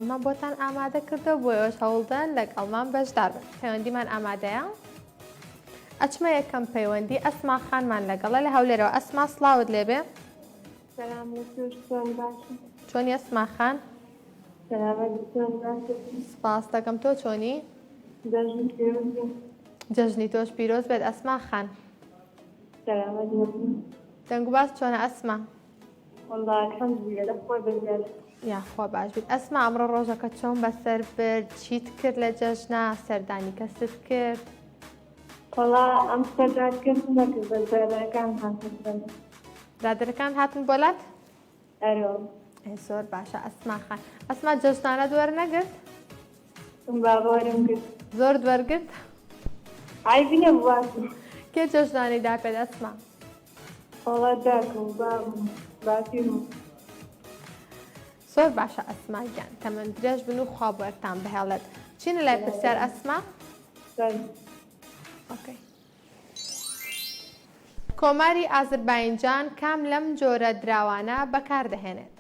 مان بۆتان ئامادە کردووە بۆ ئێوەش هەوڵدەن لەگەڵمان بەشدار بن پەیوەندیمان ئامادەیە ئەچمە یەکەم پەیوەندی ئەسما خانمان لەگەڵە لە هەولێرەوە ئەسما سلااوت لێبێ چۆنی ئەسما خان سپاس دەکەم تۆ چۆنی جەژنی تۆش پیرۆز بێت ئەسما خان دەنگواز چۆنە ئەسما وەڵا الحمدللە لە خوای بەزیاد. یاخوا باش بیت ئەسما ئەمڕۆ ڕۆژەکە چۆن بەسەر برد چیت کرد لە جەژنە سەردانی کەست کرد وەڵا ئەم سەردان کەس نەکرد بەس برادەرەکان هاتن برادەرەکان هاتن بۆ لات ئەرۆ زۆر باشە ئەسما خان ئەسما جەژنانە دوەر نەگرت بابارم گرت زۆر دوەرگرت ئای بینە بووە کێ جەژنانی دا پێ ئەسما وەڵا داکم و بابم و باپیرم و. زۆر باشە ئەسما گیان تەمەن درێژ بن و خوا بەرتان بهێڵێت چینە لای پرسیار ئەسما ئۆکەی کۆماری ئازرباینجان کام لەم جۆرە دراوانە بەکاردەهێنێت؟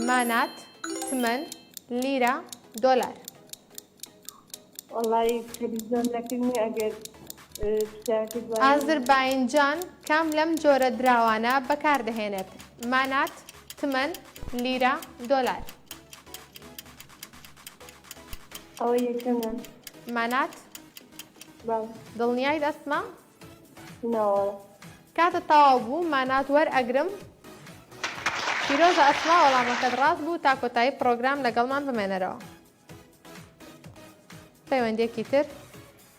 مانات تمەن لیرە دۆلار والله تلفزيون نەکردنی ئەگەر ئازرباینجان کام لەم جۆرە دراوانە بەکاردەهێنێت مانات تمەن لیرە دۆلار ئەوە یەکەمە مانات دڵنیای دەستمە ناوەڵە. کاتت تەواو بوو مانات وەر ئەگرم. پیرۆزە ئەسما وەڵامەکەت ڕاست بوو تا کۆتایی پڕۆگرام لەگەڵمان بمێنەرەوە پەیوەندیەکی تر.